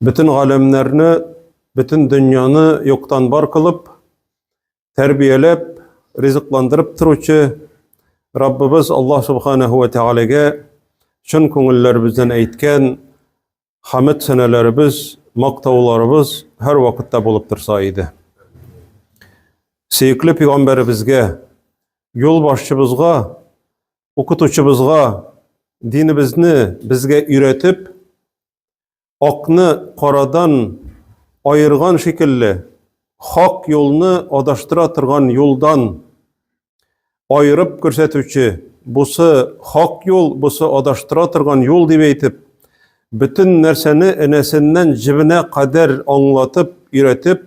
Бөтен галәмнәрне, бөтен дөньяны юктан бар кылып, тәрбияләп, ризыкландырып торучы Раббыбыз Аллаһ Субханаһу ва Тәгаләгә чын күңелләребездән әйткән хамид сәнәләребез, мактауларыбыз һәр вакытта булып торса иде. Сөекле пәйгамбәребезгә, юлбашчыбызга Укытучыбызга динебезне безгә өйрәтеп, акны карадан айырган шикелле, хак юлны адаштыра торган юлдан айырып күрсәтүче, бусы хак юл, бусы адаштыра торган юл дип әйтеп, бөтен нәрсәне энәсеннән җебенә кадәр аңлатып, өйрәтеп,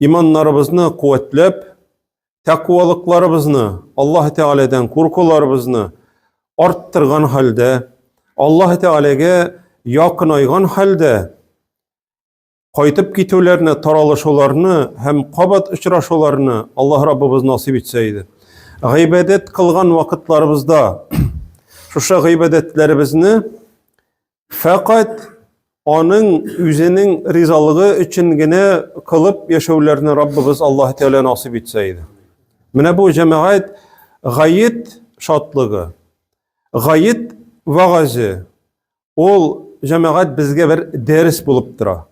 иманнарыбызны куәтләп, тәкуалыкларыбызны, Аллаһ Тәгаләдән куркуларыбызны арттырган хәлдә, Аллаһ Тәгаләгә якынайган хәлдә кайтып китүләрне, таралышуларны һәм кабат очрашуларны Аллаһ Раббыбыз насыйп итсә иде. Гыйбадәт кылган вакытларыбызда шушы гыйбадәтләребезне Фәкать аның үзенең ризалыгы өчен генә кылып яшәүләрне Раббыбыз Аллаһ Тәгалә насыйп итсә иде. Менә бу җәмәгать гаит шатлыгы, гаит вагазы ул җәмәгать безгә бер дәрес булып тора.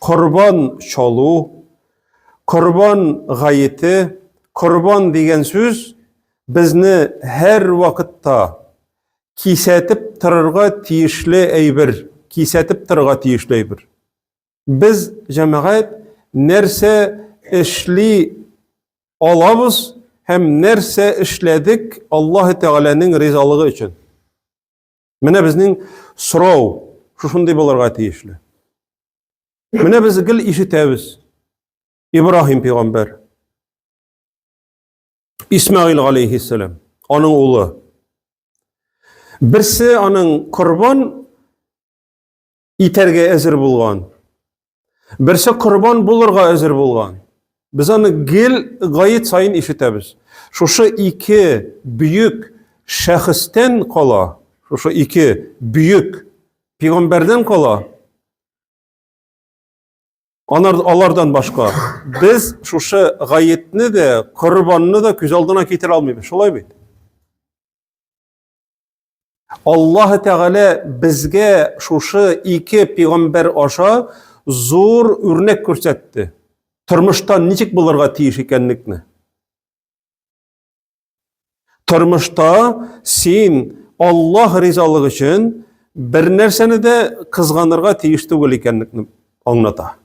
Корбан чалу, корбан гаете, корбан дигән сүз безне һәр вакытта кисәтеп торырга тиешле әйбер, кисәтеп торырга тиешле әйбер. Без җәмәгать нәрсә эшли алабыз һәм нәрсә эшләдек Аллаһ Тәгаләнең ризалыгы өчен. Менә безнең сорау шушындый булырга тиешле. Менә без гел ишетәбез. Ибраһим пәйгамбәр Исмәгыйль алейхиссәлам, аның улы. Берсе аның корбан итәргә әзер булган. Берсе корбан булырга әзер булган. Без аны гел гаит сайын ишетәбез. Шушы ике бөек шәхестән кала, шушы ике бөек пигамбәрдән кала Алардан башка без шушы гаетне дә, корбанны да күз алдына китерә алмыйбыз. Шулай бит? Аллаһ Тәгалә безгә шушы ике пигамбер аша зур үрнәк күрсәтте. Тормышта ничек булырга тиеш икәнлекне. Тормышта син Аллаһ ризалыгы өчен бер нәрсәне дә кызганырга тиеш түгел икәнлекне аңлата.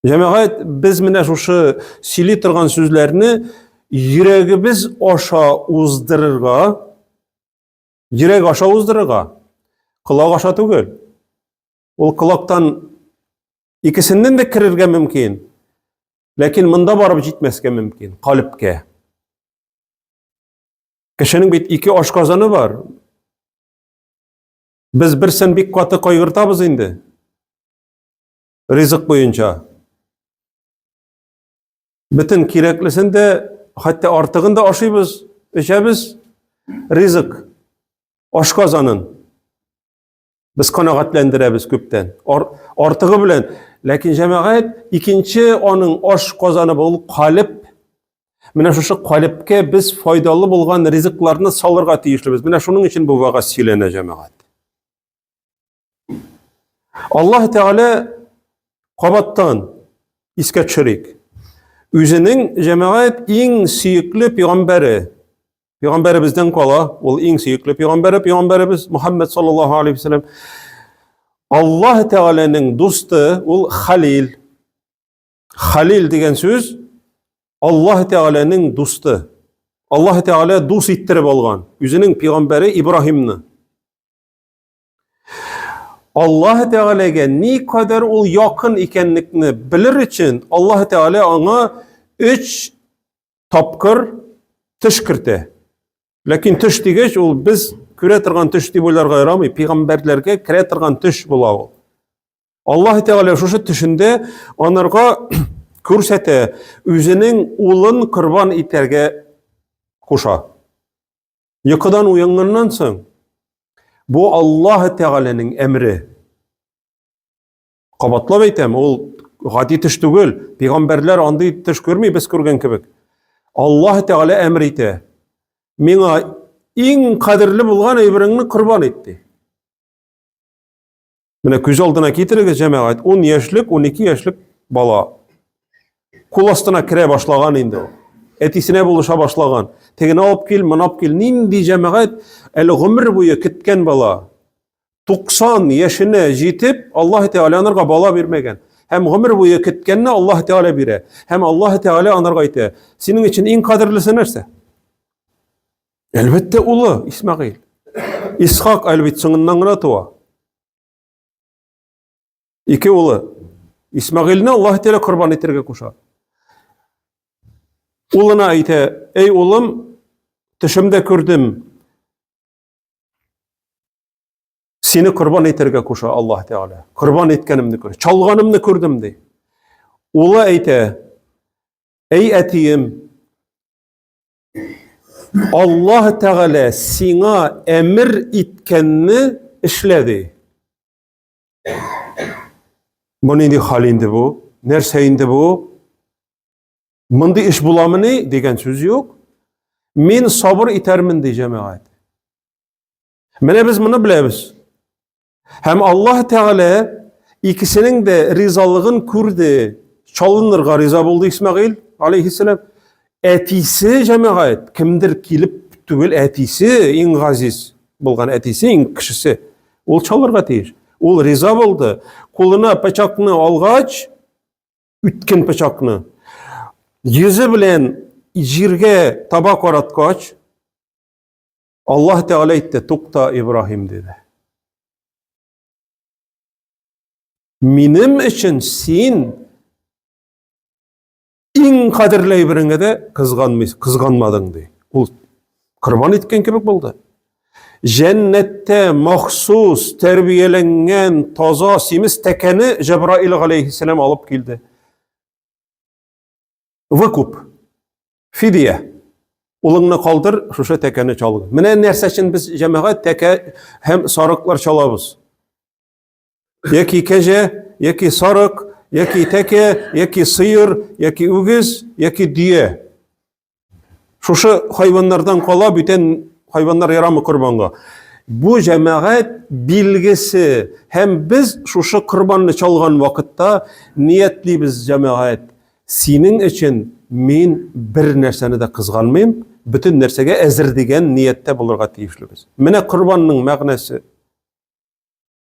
Җәмәгать, без менә шушы сөйли торган сүзләрне йөрәгебез аша уздырырга, йөрәк аша уздырырга, колак аша түгел. Ул колактан икесеннән дә керергә мөмкин. Ләкин монда барып җитмәскә мөмкин, калепкә. Кешенең бит ике ашказаны бар. Без берсен бик каты кайгыртабыз инде. Ризык буенча. Бөтен кирәклесен дә, хәтта артыгын да ашыйбыз, эчәбез. Ризык ашказанын. Без канәгатьләндерәбез күптән. Ар, артыгы белән. Ләкин җәмәгать икенче аның аш казаны бул калып. Менә шушы калыпка без файдалы булган ризыкларны салырга тиешлебез. Менә шуның өчен бу вагаз сөйләнә җәмәгать. Аллаһ Тәгалә кабаттан искә төшерик. Үзенең җәмәгать иң сөекле пигамбәре Пәйгамбәребездән кала, ул иң сөекле пәйгамбәре, пәйгамбәребез Мухаммед саллаллаһу алейхи вәсәләм. Аллаһ Тәгаләнең дусты ул Халил. Халил дигән сүз Аллаһ Тәгаләнең дусты. Аллаһ Тәгалә дус иттереп алган үзенең пәйгамбәре Ибраһимны. Аллаһ Тәгаләгә ни кадәр ул якын икәнлекне белер өчен, Аллаһ Тәгалә аңа өч тапкыр төш кертә. Ләкин төш дигәч, ул без күрә торган төш дип уйларга ярамый, пигамбәрләргә керә торган төш була ул. Аллаһ Тәгалә шушы төшендә анарга күрсәтә, үзенең улын корбан итәргә куша. Йокыдан уянганнан соң, бу Аллаһ Тәгаләнең әмре. Кабатлап әйтәм, ул гади төш түгел. Пәйгамбәрләр андый төш күрми, без күргән кебек. Аллаһ Тәгалә әмер итә. Миңа иң кадерле булган әйбереңне корбан ит, ди. Менә күз алдына китерегез, җәмәгать, 10 яшьлек, 12 яшьлек бала. Кул астына керә башлаган инде ул. Әтисенә булыша башлаган. Тегене алып кил, моны алып кил. Нинди җәмәгать әле гомер буе көткән бала. 90 яшенә җитеп, Аллаһ Тәгалә анарга бала бирмәгән. Һәм гомер буе көткәнне Аллаһ Тәгалә бирә. Һәм Аллаһ Тәгалә анарга әйтә: "Синең өчен иң кадерлесе нәрсә?" Әлбәттә, улы Исмәгыйль. Исхак әлбит соңыннан гына туа. Ике улы. Исмәгыйльне Аллаһ Тәгалә корбан итәргә куша. Улына әйтә, "Эй улым, төшемдә күрдем. Сине корбан итәргә куша Аллаһ Тәгалә. Корбан иткәнемне күр, чалганымны күрдем" ди. Улы әйтә, "Эй әтием, Аллаһ Тәгалә сиңа әмер иткәнне эшлә ди. Бу нинди хәл инде бу? Нәрсә инде бу? Мондый эш буламыни дигән сүз юк. Мин сабыр итәрмен ди җәмәгать. Менә без моны беләбез. Һәм Аллаһ Тәгалә икесенең дә ризалыгын күрде. Чалынырга риза булды Исмәгыйль алейхиссалам. Әтисе җәмәгать, кемдер килеп түгел, әтисе иң газиз булган әтисе, иң кешесе. Ул чалырга тиеш. Ул риза булды. Кулына пычакны алгач, үткен пычакны, йөзе белән җиргә таба караткач, Аллаһ Тәгалә әйтте, тукта, Ибраһим, диде. Минем өчен син иң кадерле әйбереңә дә кызганмый, кызганмадың, ди. Ул корбан иткән кебек булды. Җәннәттә махсус тәрбияләнгән таза симез тәкәне Җәбраил галәйһиссәлам алып килде. Выкуп. Фидия. Улыңны калдыр, шушы тәкәне чалгын. Менә нәрсә өчен без җәмәгать тәкә һәм сарыклар чалабыз. Яки кәҗә, яки сарык, яки тәкә, яки сыер, яки үгез, яки дөя. Шушы хайваннардан кала бүтән хайваннар ярамы корбанга. Бу җәмәгать билгесе һәм без шушы корбанны чалган вакытта ниятлибез җәмәгать. Синең өчен мин бер нәрсәне дә кызганмыйм, бөтен нәрсәгә әзер дигән нияттә булырга тиешлебез. Менә корбанның мәгънәсе.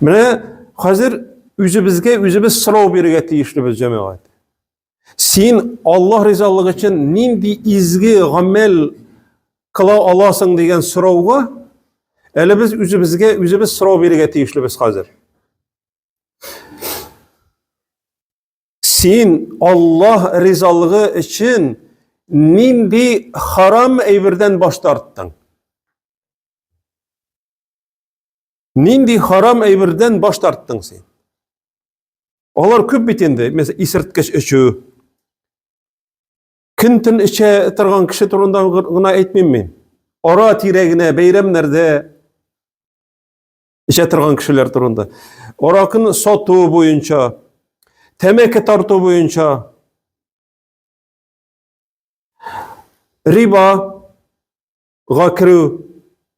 Менә хәзер үзебезгә үзебез сорау бирергә тиешлебез, җәмәгать. Син Аллаһ ризалыгы өчен нинди изге гамәл кыла аласың дигән сорауга әле без үзебезгә үзебез сорау бирергә тиешлебез хәзер. Син Аллаһ ризалыгы өчен нинди харам әйбердән баш тарттың? Нинди харам әйбердән баш тарттың син? Алар күп бит инде, мәсәлән, исерткеч эчү. Көн төн эчә торган кеше турында гына әйтмим мин. Ара тирәгенә бәйрәмнәрдә эчә торган кешеләр турында. Аракын сату буенча, тәмәке тарту буенча риба ga kirew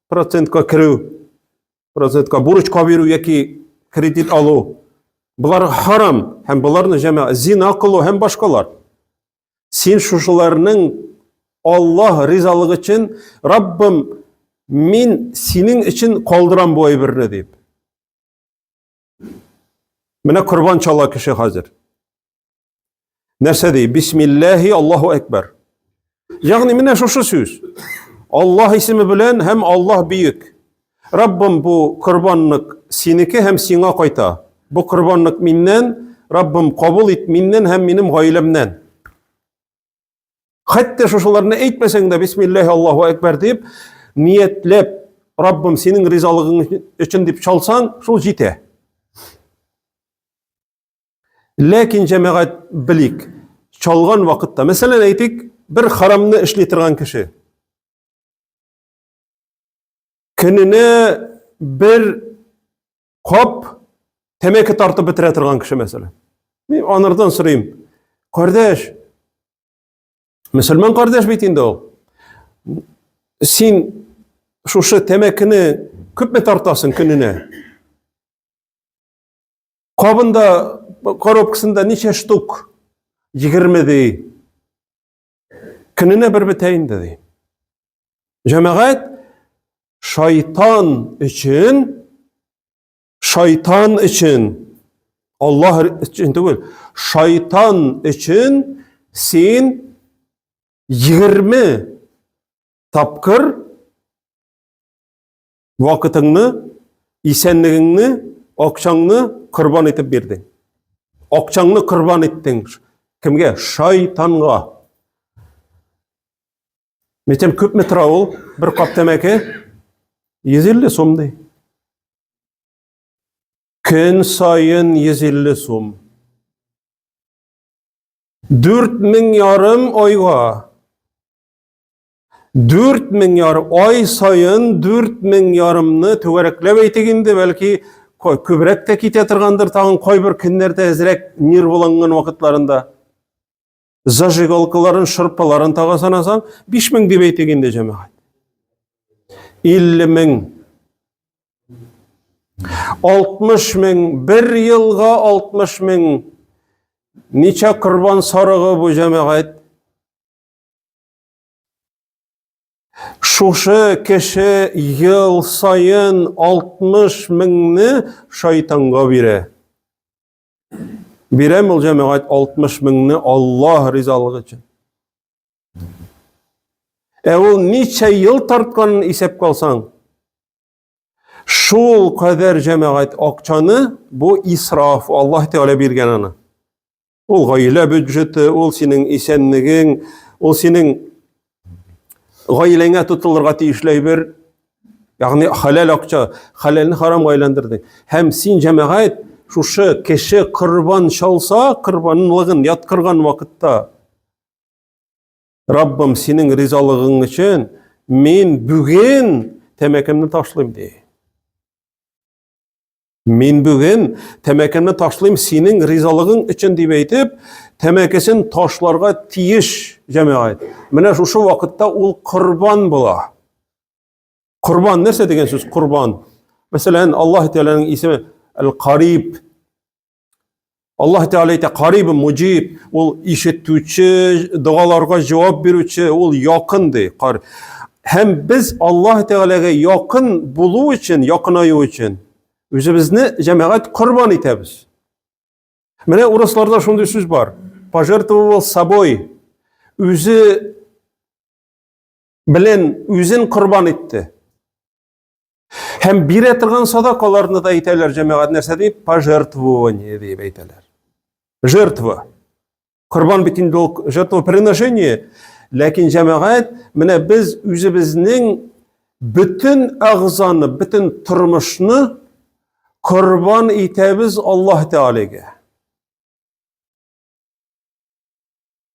процентка киреү процентка бурычка бирү яки кредит алу болар харам һәм боларны җәмә зина кылу һәм башкалар син шушыларның аллаһ ризалыгы өчен раббым мин синең өчен калдырам бу әйберне дип менә корбан чала кеше хәзер Нәрсә ди? Бисмиллахи Аллаһу әкбәр. Ягъни менә шушы сүз. Аллаһ исеме белән һәм Аллаһ бөек. Раббым бу корбанлык синеке һәм сиңа кайта. Бу корбанлык миннән, Раббым кабул ит миннән һәм минем гаиләмнән. Хәтта шушыларны әйтмәсәң дә бисмиллахи Аллаһу әкбәр дип ниятләп Раббым синең ризалыгың өчен дип чалсаң, шул җитә. Ләкин җәмәгать белик, чалган вакытта, мәсәлән, әйтик, бер харамны эшли торган кеше. Көненә бер кап тәмәке тартып бетерә торган кеше, мәсәлән. Мин анардан сорыйм, кардәш, мөселман кардәш бит инде ул. Син шушы тәмәкене күпме тартасың көненә? Кабында, коробкасында ничә штук? Егерме ди. Көненә бер бетә инде ди. Җәмәгать шайтан өчен шайтан өчен Аллаһ өчен түгел, шайтан өчен син 20 тапкыр Вакытыңны, исәнлегеңне, акчаңны корбан итеп бирдең. Акчаңны корбан иттең. Кемгә? Шайтанга. Митем күпме тора ул? Бер кап тәмәке 150 сум ди. Көн сайын 150 сум. 4000 ярым айга Дүрт мең ярым, ай сайын дүрт мең ярымны түгәрәкләп әйтик инде, бәлки күбрәк тә китә торгандыр, тагын кайбер көннәрдә әзрәк нервланган вакытларында. Зажигалкаларын, шырпаларын тага санасаң, биш мең дип әйтик инде, җәмәгать. Илле мең. Алтмыш мең, бер елга алтмыш мең. Ничә корбан сарыгы бу җәмәгать? Шушы кеше ел саен 60 меңне шайтанга бирә. Бирәм ул җәмәгать 60 меңне Аллаһ ризалыгы өчен. Ә ул ничә ел тартканын исәп калсаң, шул кадәр җәмәгать акчаны бу исраф, Аллаһ Тәгалә биргән аны. Ул гаилә бюджеты, ул синең исәнлегең, ул синең гаиләңә тотылырга тиешле әйбер. Ягъни халал акча, халалны харамга әйләндердең. Һәм син җәмәгать шушы кеше корбан чалса, корбанлыгын яткырган вакытта Раббым, синең ризалыгың өчен мин бүген тәмәкемне ташлыйм ди. Мин бүген тәмәкемне ташлыйм синең ризалыгың өчен дип әйтеп, тәмәкесен ташларга тиеш җәмәгать. Менә шушы вакытта ул корбан була. Корбан нәрсә дигән сүз? Корбан. Мәсәлән, Аллаһ Тәгаләнең исеме Әл-Кариб, Аллаһ Тәгалә әйтә, кариб муҗиб, ул ишетүче, догаларга җавап бирүче, ул якын ди. Кар. Һәм без Аллаһ Тәгаләгә якын булу өчен, якынаю өчен үзебезне җәмәгать корбан итәбез. Менә урысларда шундый сүз бар. Пожертвовал собой. Үзе белән үзен корбан итте. Һәм бирә торган садакаларны да әйтәләр җәмәгать нәрсә дип пожертвование дип әйтәләр. Жертва. Корбан бит инде ул жертва приношение, ләкин җәмәгать менә без үзебезнең бөтен агзаны, бөтен тормышны корбан итәбез Аллаһ Тәгаләгә.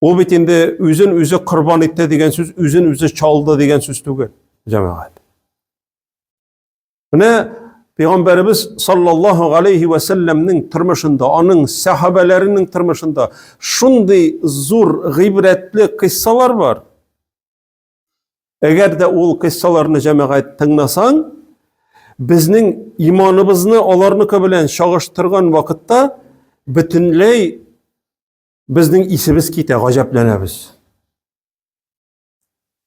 Ул бит инде үзен үзе корбан итте дигән сүз, үзен үзе чалды дигән сүз түгел, җәмәгать. Менә Пәйгамбәребез саллаллаһу алейхи ва салламның тормышында, аның сахабаларының тормышында шундый зур гыйбрәтле кыссалар бар. Әгәр дә ул кыйссаларны җәмәгать тыңнасаң, безнең иманыбызны аларныкы белән чагыштырган вакытта бөтенләй безнең исебез китә, гаҗәпләнәбез.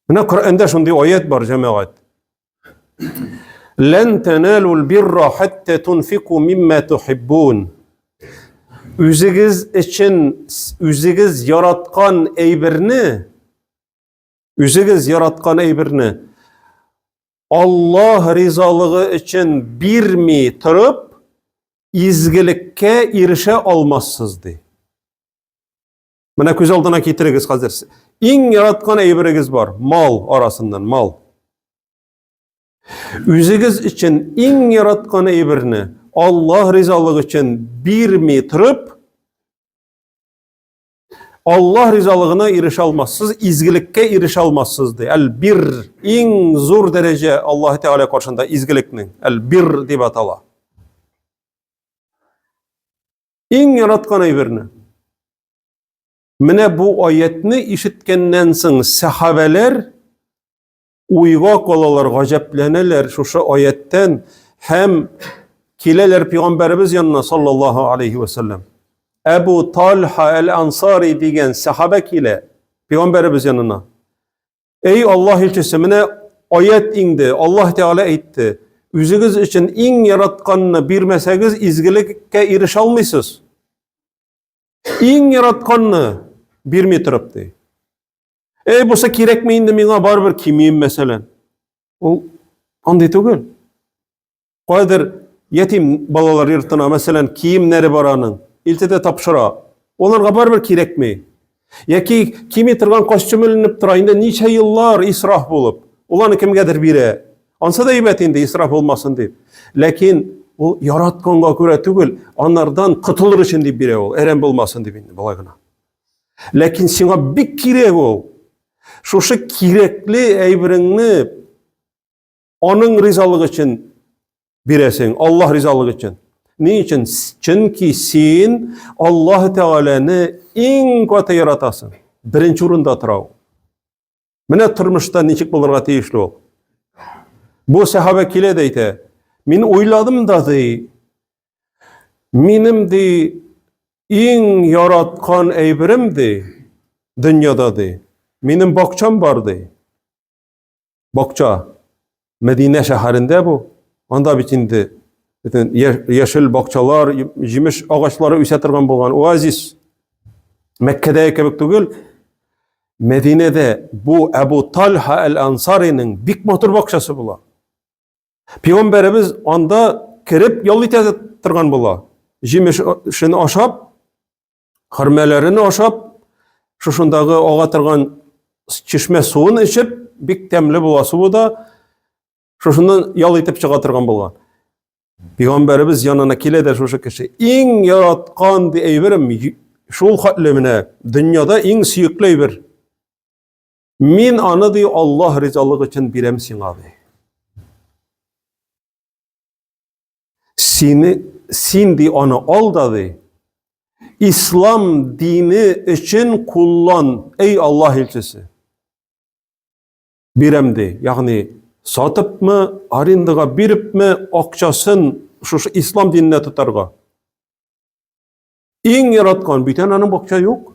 Менә Коръәндә шундый аят бар, җәмәгать. Лән таналул бирра хатта тунфику мимма тухиббун. Үзегез өчен үзегез яраткан әйберне Үзегез яраткан әйберне Аллаһ ризалыгы өчен бирми торып, изгелеккә ирешә алмассыз ди. Менә күз алдына китерегез хәзер. Иң яраткан әйберегез бар, мал арасыннан, мал. Үзегез өчен иң яраткан әйберне Аллаһ ризалыгы өчен бирми торып, Аллаһ ризалыгына ирешә алмассыз, изгелеккә ирешә алмассыз ди. Әл-бир иң зур дәрәҗә Аллаһ Тәгалә каршында изгелекнең. Әл-бир дип атала. Иң яраткан әйберне. Менә бу аятны ишеткәннән соң сәхабәләр уйга калалар, гаҗәпләнәләр шушы аяттән һәм киләләр пәйгамбәребез янына саллаллаһу алейхи вәсәлләм. Әбу Талха әл-Ансари дигән сахабә килә пәйгамбәребез янына. Эй Аллаһ илчесе, менә аят иңде. Аллаһ Тәгалә әйтте: "Үзегез өчен иң яратканны бирмәсәгез, изгелеккә ирешә алмыйсыз." Иң яратканны бирми торып ди. Эй, бусы кирәк ме инде миңа бар бер кимием мәсәлән. Ул андый түгел. Кайдыр ятим балалар йортына мәсәлән киемнәре бар аның. Илтедә тапшыра. Оларга бар бер кирәк ме? Яки кими торган костюм эленеп тора инде ничә еллар исраф булып. Ул аны кемгәдер бирә. Ансы да әйбәт инде исраф булмасын дип. Ләкин ул яратканга күрә түгел, анардан котылыр өчен дип бирә ул, әрәм булмасын дип инде болай гына. Ләкин сиңа бик кирәк ул. Шушы кирәкле әйбереңне аның ризалыгы өчен бирәсең, Аллаһ ризалыгы өчен. Ни өчен? Чөнки син Аллаһ Тәгаләне иң каты яратасың. Беренче урында тора ул. Менә тормышта ничек булырга тиешле ул. Бу сәхабә килә дә әйтә, мин уйладым да ди, минем ди иң яраткан әйберем ди, дөньяда ди, минем бакчам бар ди. Бакча. Мәдинә шәһәрендә бу. Анда бит инде бөтен яшел бакчалар, җимеш агачлары үсә торган булган оазис. Мәккәдәге кебек түгел. Мәдинәдә бу Әбу Тальха әл-Ансариның бик матур бакчасы була. Пигамбәребез анда кереп ял итә торган була. Җимешен ашап, Хөрмәләрен ашап, шушындагы ага торган чишмә суын эчеп, бик тәмле була суы да, шушыннан ял итеп чыга торган булган. Пәйгамбәребез янына килә дә шушы кеше. Иң яраткан ди әйберем шул хәтле менә дөньяда иң сөекле әйбер. Мин аны ди Аллаһ ризалыгы өчен бирәм сиңа ди. Сине, син ди аны ал да ди, ислам дине өчен куллан, эй Аллаһ илчесе. Бирәм ди, ягъни сатыпмы, арендага бирепме, акчасын шушы ислам диненә тотарга. Иң яраткан бит аның бакча юк.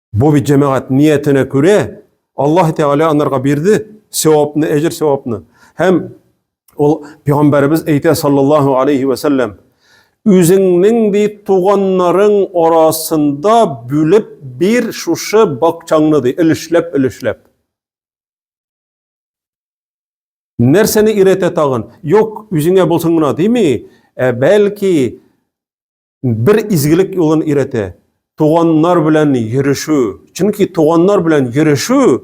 Бу бит җәмәгать ниятенә күрә Аллаһ Тәгалә анарга бирде сәвапны, әҗер сәвапны. Һәм ул пәйгамбәребез әйтә саллаллаһу алейхи ва саллям, үзеңнең ди туганнарың арасында бүлеп бир шушы бакчаңны ди, өлешләп, өлешләп. Нәрсәне өйрәтә тагын? Юк, үзеңә булсын гына дими, ә бәлки бер изгелек юлын өйрәтә. Туганнар белән йөрешу. Чөнки туганнар белән йөрешу,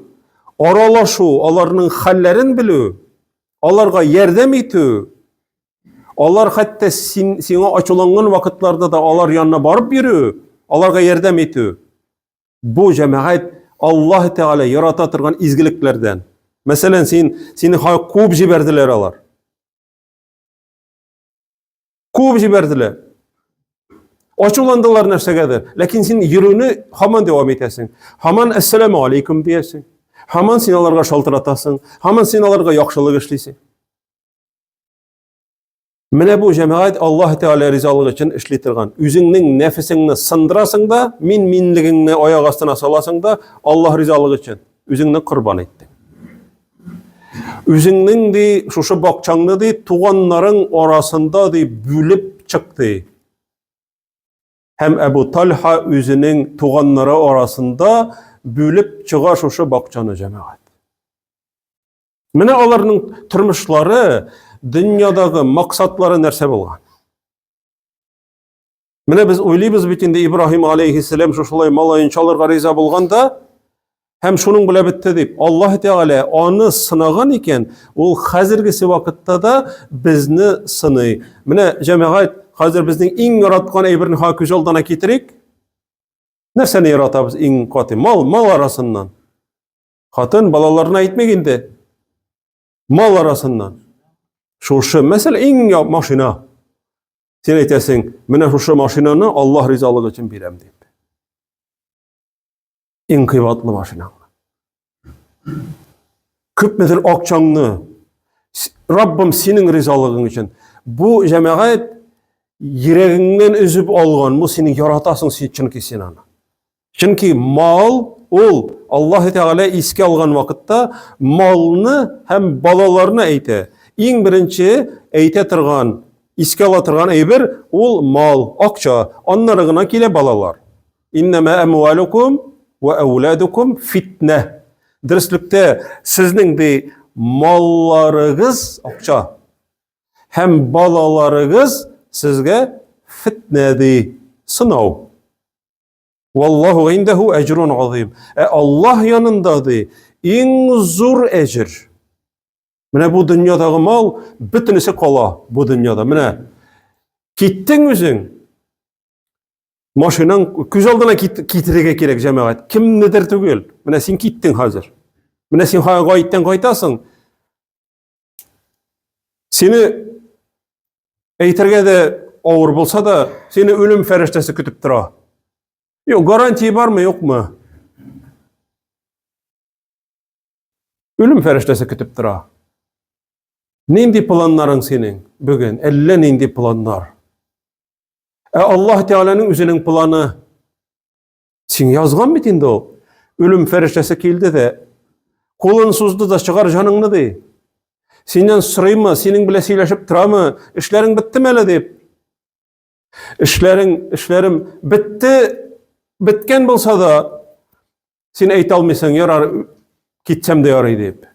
аралашу, аларның хәлләрен белү, аларга ярдәм итү, алар хәтта син, сиңа ачуланган вакытларда да алар янына барып йөрү, аларга ярдәм итү. Бу җәмәгать Аллаһ Тәгалә ярата торган изгелекләрдән. Мәсәлән, син сине куып җибәрделәр алар. Куып җибәрделәр. Ачуландылар нәрсәгәдер. Ләкин син йөрүне һаман дәвам итәсең. Һаман әссәламу алейкум диясең. Һаман син аларга шалтыратасың. Һаман син аларга яхшылык эшлисең. Менә бу җәмәгать Аллаһ Тәгалә ризалыгы өчен эшли торган. Үзеңнең нәфесеңне сындырасың да, мин минлегеңне аяк астына саласың да, Аллаһ ризалыгы өчен үзеңне корбан иттең. Үзеңнең ди шушы бакчаңны ди туганнарың арасында ди бүлеп чык ди. Һәм Әбу Тальха үзенең туганнары арасында бүлеп чыга шушы бакчаны җәмәгать. Менә аларның тормышлары, дөньядагы максатлары нәрсә булган? Менә без уйлыйбыз бит инде Ибраһим алейхиссәлам шушылай малаен чалырга риза булганда, һәм шуның белән бетте дип. Аллаһ Тәгалә аны сынаган икән, ул хәзергесе вакытта да безне сыный. Менә җәмәгать, хәзер безнең иң яраткан әйберне ха күз алдына китерик. Нәрсәне яратабыз иң каты? Мал, мал арасыннан. Хатын балаларына әйтмик инде. Мал арасыннан. Шушы мәсәлә иң машина. Син әйтәсең, менә шушы машинаны Аллаһ ризалыгы өчен бирәм дип. Иң кыйбатлы машина. Күпмедер акчаңны Раббым синең ризалыгың өчен. Бу җәмәгать йөрәгеңнән өзеп алган, бу синең яратасың син чөнки син аны. Чөнки мал ул Аллаһ Тәгалә искә алган вакытта малны һәм балаларны әйтә. Иң беренче әйтә торган, искә ала торган әйбер ул мал, акча. Аннары гына килә балалар. Иннама амвалукум ва ауладукум фитнә. Дөреслекте сезнең ди малларыгыз акча һәм балаларыгыз сезгә фитнә ди, сынау. Валлаху индәһу әҗрун азим. Ә Аллаһ янында ди иң зур әҗр. Менә бу дөньядагы мал бөтенесе кала бу дөньяда. Менә киттең үзең. Машинаң күз алдына китерергә кирәк җәмәгать. Кемнедер түгел. Менә син киттең хәзер. Менә син хәзер гайттан кайтасың. Сине әйтергә дә авыр булса да, сине үлем фәрештәсе көтеп тора. Юк, гарантия бармы, юкмы? Үлем фәрештәсе көтеп тора. Нинди планнарың синең бүген? Әллә нинди планнар. Ә Аллаһ Тәгаләнең үзенең планы Син язган бит инде ул. Үлем фәрештәсе килде дә, кулын сузды да чыгар җаныңны ди. Синнән сорыймы, синең белән сөйләшеп торамы, эшләрең беттеме әле дип. Эшләрең, эшләрем бетте, беткән булса да, син әйтә алмыйсың, ярар, китсәм дә ярый дип.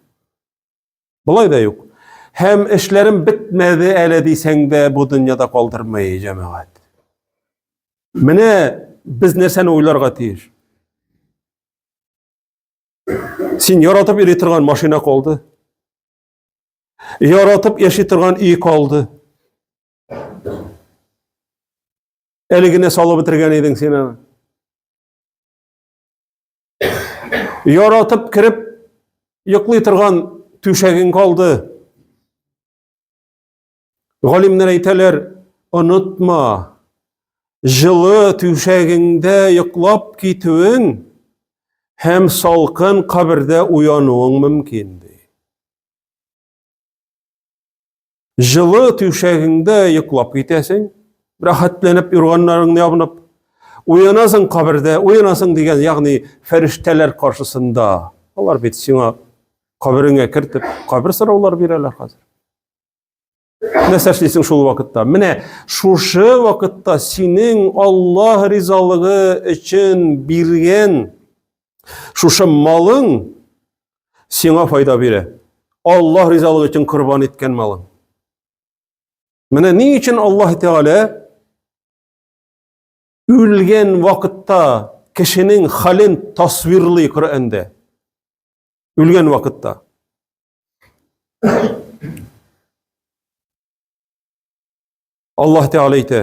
Болай да юк. Һәм эшләрем бетмәде әле дисәң дә бу дөньяда калдырмый җәмәгать. Менә без нәрсәне уйларга тиеш? Син яратып йөри торган машина калды. Яратып яши торган өй калды. Әле генә салып бетергән идең син аны. Яратып кереп йоклый торган түшәгең калды. Галимнәр әйтәләр, онытма, жылы түшәгеңдә йоклап китүең һәм салкын кабердә уянуың мөмкин ди. Җылы түшәгеңдә йоклап китәсең, рәхәтләнеп юрганнарыңны ябынып, уянасың кабердә, уянасың дигән, ягъни фәрештәләр каршысында. Алар бит сиңа кабереңә кертеп, кабер сораулар бирәләр хәзер. Нәрсә эшлисең шул вакытта? Менә шушы вакытта синең Аллаһ ризалыгы өчен биргән Шушы малың сиңа файда бирә. Аллаһ ризалыгы өчен корбан иткән малың. Менә ни өчен Аллаһ Тәгалә үлгән вакытта кешенең хален тасвирлый Коръәндә. Үлгән вакытта. Аллаһ Тәгалә әйтә: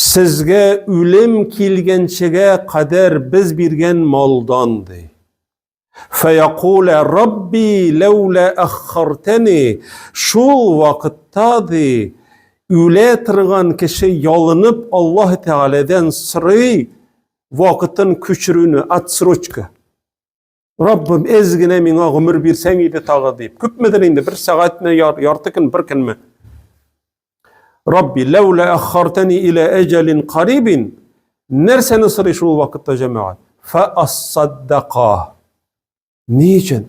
Сезгә үлем килгәнчегә кадәр без биргән малдан, ди. Фәякулә Рабби ләүлә аххартәни шул вакытта ди үлә торган кеше ялынып Аллаһ Тәгаләдән сорый вакытын күчерүне, отсрочка. Раббым, әз генә миңа гомер бирсәң иде тагы дип. Күпмедер инде, бер сәгатьме, ярты көн, бер көнме? Рабби, ләүлә аххартани илә әҗәлин карибин. Нәрсәне сорый шул вакытта җәмәгать? Фа ассаддака. Ни өчен?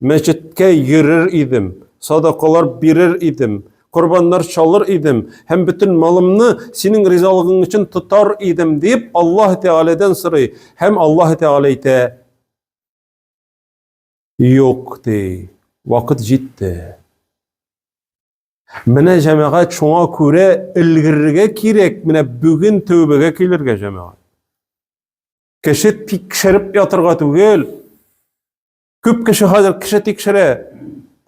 Мәчеткә йөрер идем, садакалар бирер идем, корбаннар чалыр идем һәм бөтен малымны синең ризалыгың өчен тотар идем дип Аллаһ Тәгаләдән сорый һәм Аллаһ Тәгалә әйтә Юк ди, вакыт җитте. Менә җәмәгать шуңа күрә өлгерергә кирәк, менә бүген тәүбәгә килергә җәмәгать. Кеше тикшереп ятырга түгел, Күп кеше хәзер кеше тикшерә.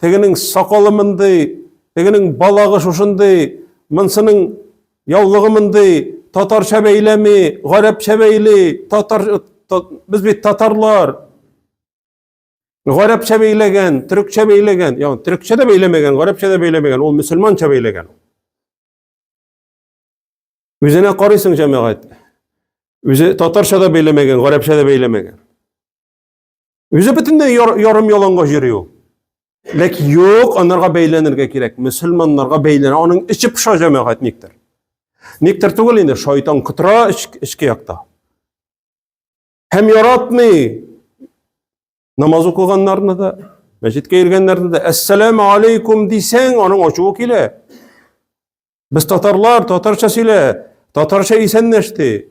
Тегенең сакалы мондый, тегенең балагы шушындый, монсының яулыгы мондый, татарча бәйләми, гарәпчә бәйли, татар без бит татарлар. Гарәпчә бәйләгән, төрекчә бәйләгән, яу, төрекчә дә бәйләмәгән, гарәпчә дә бәйләмәгән, ул мөселманча бәйләгән. Үзенә карыйсың җәмәгать. Үзе татарча да бәйләмәгән, гарәпчә дә бәйләмәгән. Үзе бөтенләй ярым яланга йөри ул. Ләкин юк, анарга бәйләнергә кирәк. Мөселманнарга бәйләнә. Аның эче пыша җәмәгать никтер. Никтер түгел инде, шайтан кытыра эчке якта. Һәм яратмый намаз укыганнарны да, мәчеткә йөргәннәрне дә, әссәламу алейкум дисәң, аның ачуы килә. Без татарлар, татарча сөйлә, татарча исәнләште.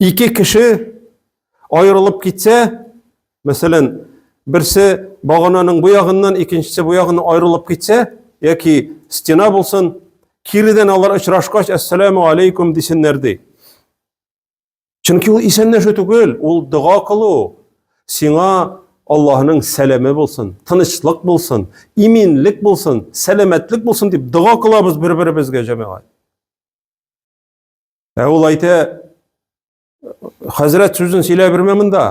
Ике кеше аерылып китсә, мәсәлән, берсе багананың бу ягыннан, икенчесе бу ягыннан аерылып китсә, яки стена булсын, киридән алар очрашкач, ассаламу алейкум дисеннәр ди. Чөнки ул исәнләшү түгел, ул дога кылу. Сиңа Аллаһның сәламе булсын, тынычлык булсын, иминлек булсын, сәламәтлек булсын дип дога кылабыз бер-беребезгә җәмәгать. Ә ул әйтә, хәзрәт сүзен сөйлә бермә монда.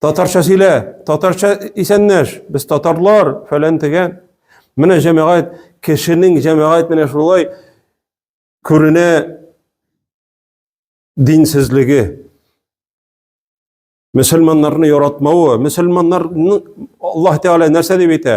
Татарча сөйлә, татарча исәннәш, без татарлар, фәлән тегән. Менә җәмәгать, кешенең җәмәгать менә шулай күренә динсезлеге. Мөселманнарны яратмавы, мөселманнарны Аллаһ Тәгалә нәрсә дип әйтә?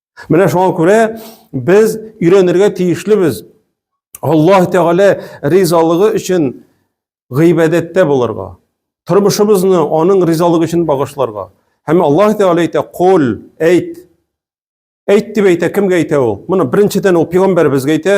Менә шуңа күрә без өйрәнергә тиешлебез. Аллаһ Тәгалә ризалыгы өчен гыйбадәттә булырга, тормышыбызны аның ризалыгы өчен багышларга. Һәм Аллаһ Тәгалә әйтә: "Кул, әйт". Әйт дип әйтә, кемгә әйтә ул? Моны беренчедән ул пәйгамбәребезгә әйтә.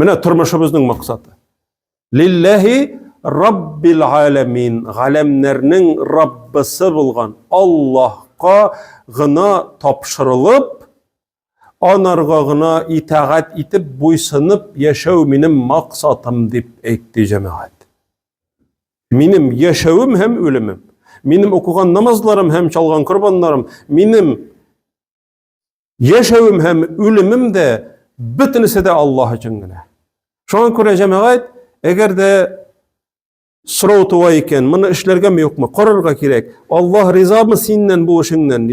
Менә тормышыбызның максаты. Лилләһи Раббил аләмин, галәмнәрнең Раббысы булган Аллаһка гына тапшырылып, анарга гына итагать итеп, буйсынып яшәү минем максатым дип әйтте җәмәгать. Минем яшәвем һәм үлемем, минем укыган намазларым һәм чалган корбаннарым, минем Яшәвем һәм үлемем дә бөтенесе дә Аллаһ өчен генә. Шуңа күрә җәмәгать, әгәр дә сорау туа икән, моны эшләргәме юкмы, карарга кирәк. Аллаһ ризамы синнән бу эшеңнән?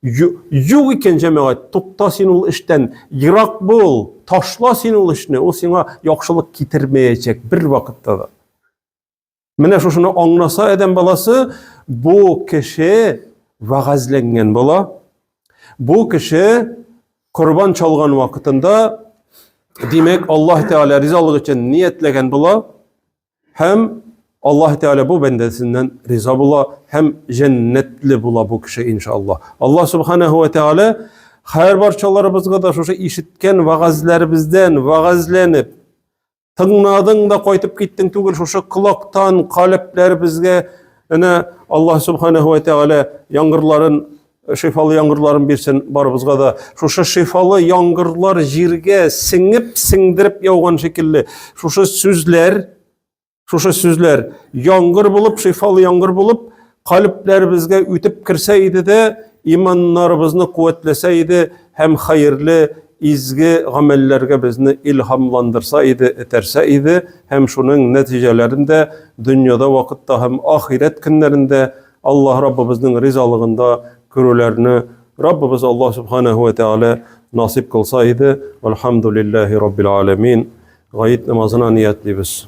Юк икән җәмәгать, тукта син ул эштән, ерак бул, ташла син ул эшне, ул сиңа яхшылык китермәячәк бер вакытта да. Менә шушыны аңласа адәм баласы, бу кеше вәгазьләнгән була. Бу кеше корбан чалган вакытында димәк Аллаһ Тәгалә ризалык өчен ниятләгән була һәм Аллаһ Тәгалә бу бәндәсеннән риза була һәм җәннәтле була бу кеше иншаллаһ. Аллаһ Субханаһу ва Тәгалә һәр барчаларыбызга да шушы ишеткән вәгазьләребездән вәгазьләнеп Тыңладың да кайтып киттең түгел, шушы колактан калебләребезгә әнә Аллаһ субханаһу ва тәгалә яңгырларын шифалы яңгырларын бирсен барыбызга да. Шушы шифалы яңгырлар җиргә сеңеп, сеңдереп яуган шикелле. Шушы сүзләр, шушы сүзләр яңгыр булып, шифалы яңгыр булып, Калебләребезгә үтеп керсә иде дә, иманнарыбызны куәтләсә иде һәм хәерле, изге гамәлләргә безне илһамландырса иде, этәрсә иде һәм шуның нәтиҗәләрен дә дөньяда вакытта һәм ахирәт көннәрендә Аллаһ Раббыбызның ризалыгында күрүләрне Раббыбыз Аллаһ Субханаһу вә Тәгалә насыйп кылса иде. Вәлхәмдүлилләһи Раббил Галәмин. Гаит намазына ниятлибез.